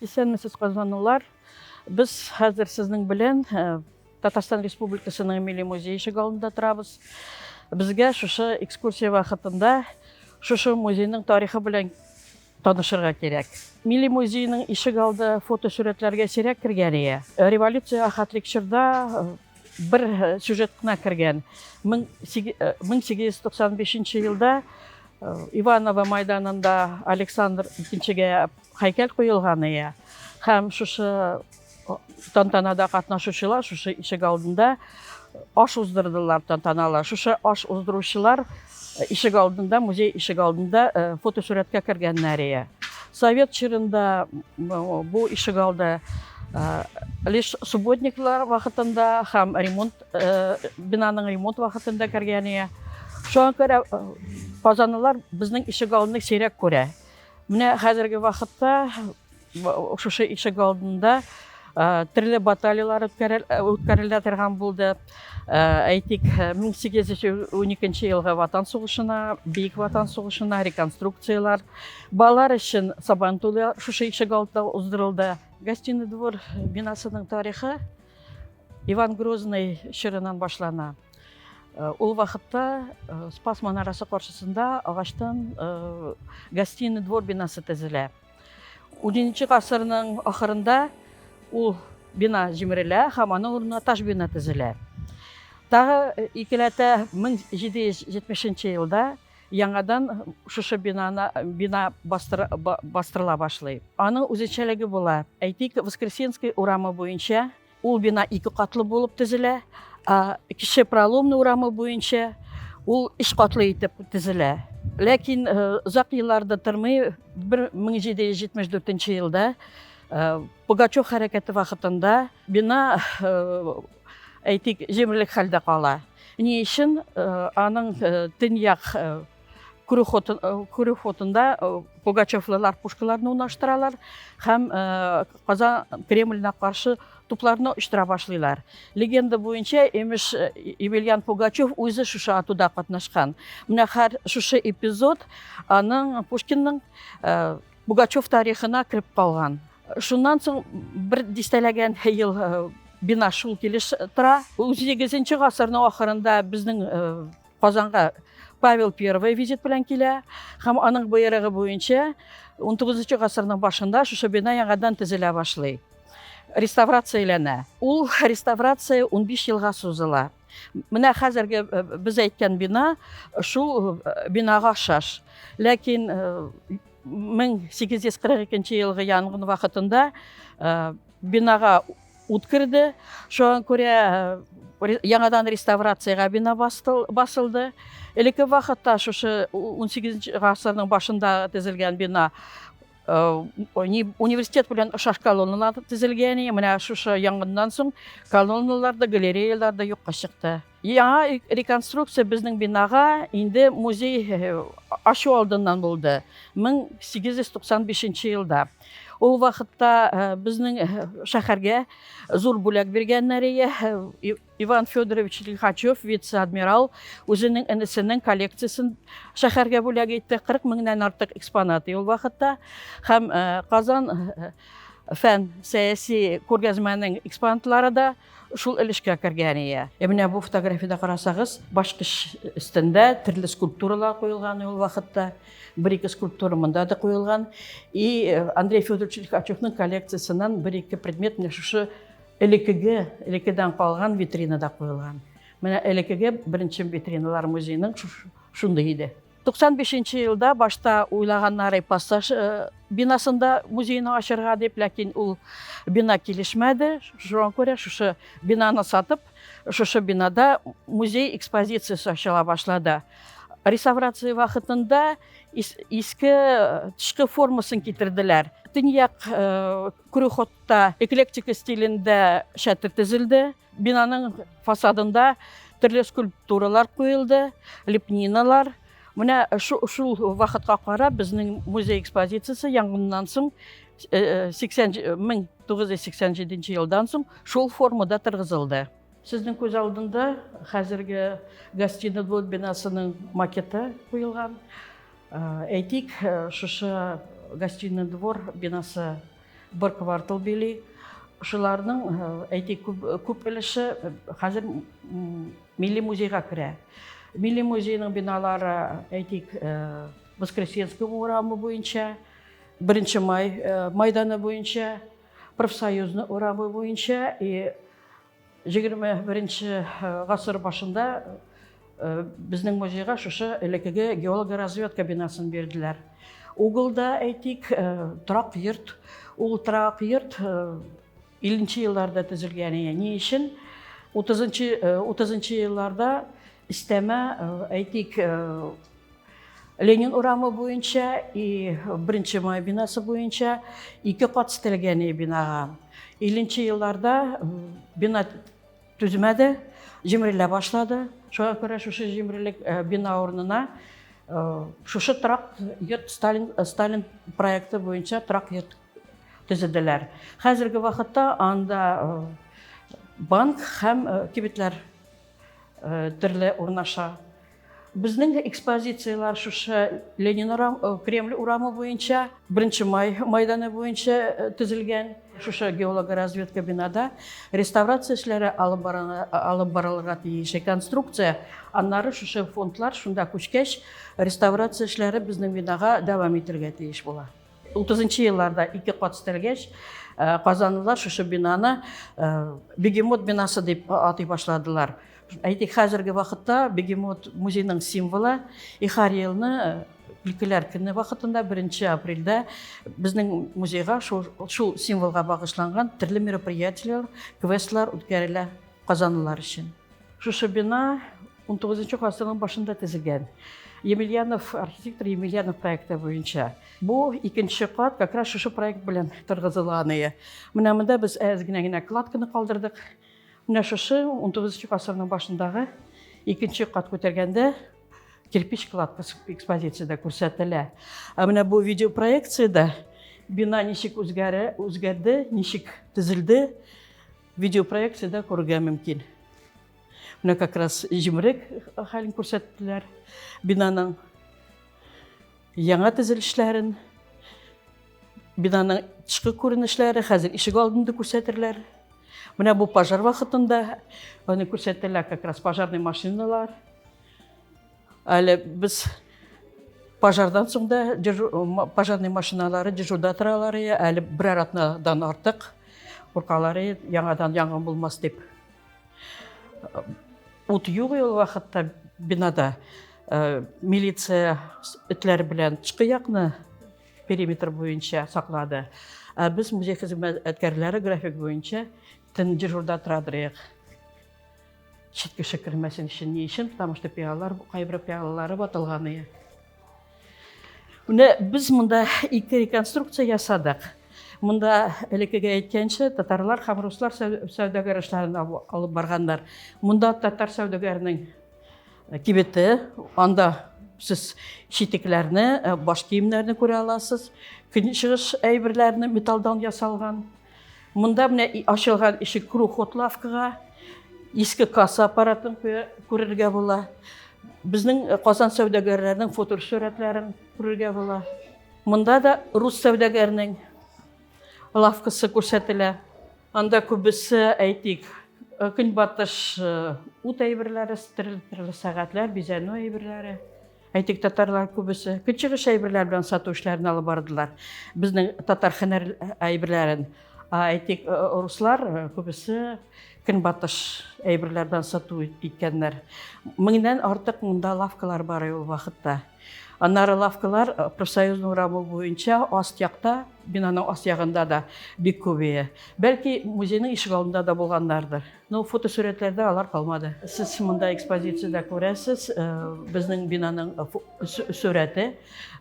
Исәнмесез, казанлылар! Без хәзер сезнең белән Татарстан Республикасының Милли музее ишек алдында торабыз. Безгә шушы экскурсия вакытында шушы музейның тарихы белән танышырга кирәк. Милли музейның ишек алды фотосурәтләргә сирәк кергән ия. Революция ахатлык чорда бер сюжет кына кергән. 1895 елда Иваново майданында Александр II-гә Һәйкәл куелган иә. Һәм шушы тантанада катнашучылар шушы ишек алдында аш уздырдылар тантаналы. Шушы аш уздыручылар ишек алдында, музей ишек алдында фотосурәткә кергәннәр иә. Совет чорында бу ишек алды лишь субботниклар вакытында һәм ремонт бинаның ремонт вакытында кергән иә. Шуңа күрә казанлылар безнең ишек алдын сирәк күрә. Менә хәзерге вакытта шушы ишек алдында төрле баталиялар үткәрелә торган булды. Әйтик, 1812 елгы Ватан сугышына, Бөек Ватан сугышына реконструкциялар. Балалар өчен Сабан туйлы шушы ишек алдында уздырылды. Гостиный двор бинасының тарихы Иван Грозный чорыннан башлана. Э, ул вакытта э, спас манарасы каршысында агачтан э, гостиный двор бинасы төзелә унынчы гасырның ахырында ул бина җимерелә һәм аның урынына таш бина төзелә тагы икеләтә 1770 елда яңадан шушы бинаны бина бастыр, бастырыла башлый аның үзенчәлеге була әйтик воскресенский урамы буенча Ул бина ике катлы булып төзелә. Кече Проломны урамы буенча ул өч катлы итеп төзелә. Ләкин озак елларда тормый, 1774 елда Пугачев хәрәкәте вакытында бина әйтик, җимерлек хәлдә кала. Ни өчен аның төньяк күрү э, фотында э, пугачевлылар пушкаларны унаштыралар һәм э, казан кремленә каршы тупларны очтыра башлыйлар легенда буенча имеш емельян пугачев үзе шушы атуда катнашкан менә хәр шушы эпизод аның пушкинның пугачев тарихына кереп калган шуннан соң бер дистәләгән ел бина шул килеш тора узигезенче гасырның ахырында безнең Казанга Павел I визит белән килә һәм аның боерыгы буенча 19 гасырның башында шушы бина яңадан төзелә башлый. Реставрацияләнә. Ул реставрация 15 елга сузыла. Менә хәзерге э, без әйткән бина шул э, бинага шаш. Ләкин 1842 э, елгы янгын вакытында бинага Ут керде, шуңа күрә яңадан реставрациягә бина басылды. Элекке вакытта шушы 18 гасырның башында төзелгән бина университет белән ошаш колонналар төзелгән. Менә шушы янгыннан соң колонналар да, галереялар да юкка чыкты. Яңа реконструкция безнең бинага инде музей ачу алдыннан булды, 1895 елда. Ул вакытта э, безнең э, шәһәргә зур бүләк биргәннәр ие э, Иван Федорович Лихачев, вице-адмирал, үзенең энесенең коллекциясен шәһәргә бүләк итте. 40 меңнән артык экспонат ул вакытта һәм Казан фән сәяси күргәзмәнең экспонатлары да Шул өлешкә кергән ия. Ә менә бу фотографиядә карасагыз, башкыч өстендә төрле скульптуралар куелган ул вакытта. Бер-ике скульптура монда да куелган. И э, Андрей Федорович Лихачевның коллекциясеннән бер-ике предмет менә шушы элекеге, элекедән калган витринада куелган. Менә элекеге беренче витриналар музейның шундый иде. 95 нче елда башта уйлаганнар Иппассаж бинасында музейны ачырга дип, ләкин ул бина килешмәде. Шуңа күрә шушы бинаны сатып, шушы бинада музей экспозициясе ачыла башлады. Реставрация вакытында иске тышкы формасын китерделәр. Төньяк крюхотта эклектика стилендә шәтер төзелде. Бинаның фасадында төрле скульптуралар куелды, лепниналар. Менә шул вакытка карап безнең музей экспозициясе яңгыннан соң 1987 елдан соң шул формада торгызылды. Сезнең күз алдында хәзерге гостиный двор бинасының макеты куелган. Әйтик, шушы гостиный двор бинасы Бер квартал били. Шуларның, әйтик, күп, күп өлеше хәзер милли музейга керә. Милли музейның биналары, әйтик, Воскресенский урамы буенча, Беренче май майданы буенча, Профсоюзны урамы буенча и Егерме беренче гасыр башында безнең музейга шушы элекеге геологоразведка бинасын бирделәр. Угылда, әйтик, торак йорт, ул торак йорт 50 елларда төзелгән ие. Ни өчен? 30-30 елларда истәмә, әйтик, Ленин урамы буенча и Беренче май бинасы буенча ике кат стелгәне бинага. Иленче елларда бина түзмәде, җимерелә башлады. Шуңа күрә шушы җимерелек э, бина урынына э, шушы торак йорт Сталин, э, Сталин проекты буенча торак йорт төзеделәр. Хәзерге вакытта анда банк һәм кибетләр э, төрле урнаша. Безнең экспозицияләр шушы Ленин урам, э, Кремль урамы буенча, Беренче май майданы буенча э, төзелгән шушы геологоразведка бинада реставрация эшләре алып барыла, алып барылырга тиеш. Конструкция, аннары шушы фондлар шунда күчкәч, реставрация эшләре безнең бинага дәвам итәргә тиеш була. Утызынчы елларда ике кат стелгәч, казанлылар шушы бинаны бегемот бинасы дип атый башладылар. Әйтик, хәзерге вакытта бегемот музейның символы Ихар елны Өлкәләр көне вакытында 1 апрельдә безнең музейга шул, шул символга багышланган төрле мероприятиеләр, квестлар үткәрелә казанлылар өчен. Шушы бина 19 гасырның башында төзелгән емельянов архитектор емельянов проекты буенча бу икенче кат как раз шушы проект белән торгызыла аны менә монда без әз генә генә кладканы калдырдык менә шушы 19 гасырның башындагы икенче кат күтәргәндә кирпич кладка экспозицияда күрсәтелә ә менә бу видеопроекцияда бина ничек үзгәрә үзгәрде ничек төзелде видеопроекцияда күрергә мөмкин Менә как раз җимерек хәлен күрсәттеләр бинаның. Яңа төзелешләрен, бинаның тышкы күренешләре, хәзер ишек алдында күрсәтерләр. Менә бу пожар вакытында аны күрсәтелә как раз пожарный машиналар. Әле без пожардан соң да пожарный машиналары дежурда торалар, әле берәр атнадан артык куркалар, яңадан янгын булмас дип. Ут юк ул вакытта бинада. Э, милиция этләре белән тышкы якны периметр буенча саклады. Ә без музей хезмәткәрләре график буенча төн дежурда торадырыйк. Чит кеше кермәсен өчен ни өчен? Потому что пиалалар, кайбер пиалалары ватылган иде. Менә без монда ике реконструкция ясадык. Монда элеккеге әйткәнчә татарлар һәм руслар сәүдәгәр эшләрен алып барганнар. Монда татар сәүдәгәренең э, кибете, анда сез читекләрне, э, баш киемнәрне күрә аласыз. Көнчыгыш әйберләрне металлдан ясалган. Монда менә ачылган ишек крухот лавкага иске касса аппаратын күрергә була. Безнең э, Казан сәүдәгәрләренең фотосурәтләрен күрергә була. Монда да рус сәүдәгәренең лавкасы күрсәтелә. Анда күбесе, әйтик, э, көнбатыш э, ут әйберләре, төрле сәгатьләр, бизәнү әйберләре. Әйтик, татарлар күбесе көнчыгыш әйберләр белән сату эшләрен алып бардылар. Безнең татар хәнәр әйберләрен. Ә әйтик, э, руслар э, күбесе көнбатыш әйберләр белән сату иткәннәр. Меңнән артык монда лавкалар бар ул вакытта. Аннары лавкалар э, профсоюзның урамы буенча аст якта, бинаның аст ягында да бик күбәя. Бәлки музейның ишек алдында да булганнардыр. Ну, фотосурәтләрдә алар калмады. Сез монда экспозициядә күрәсез, безнең бинаның сурәте.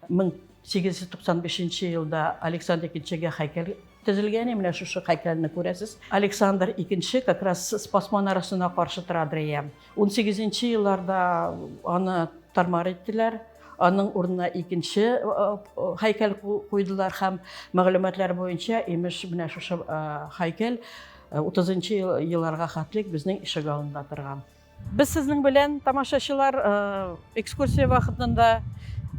1895 елда Александр икенчегә хәйкәл төзелгән, менә шушы хәйкәлне күрәсез. Александр икенче как раз Спас манарасына каршы тора Адреям. 18 нче елларда аны тармар иттеләр. Аның урынына икенче хәйкәл куйдылар һәм мәгълүматлар буенча, имеш, менә шушы хәйкәл Утызынчы елларга хәтлек безнең ишегалында торган. Без сезнең белән, тамашачылар, экскурсия вакытында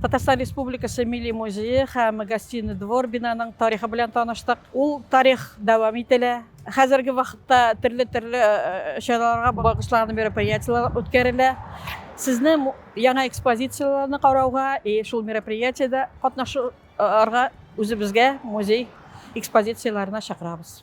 Татарстан Республикасы Милли музее һәм Гостиный двор бинаның тарихы белән таныштык. Ул тарих дәвам ителә. Хәзерге вакытта төрле-төрле чараларга багышланган мероприятиеләр үткәрелә. Сезне яңа экспозицияләрне карауга и шул мероприятиедә катнашырга үзебезгә музей экспозицияләренә чакырабыз.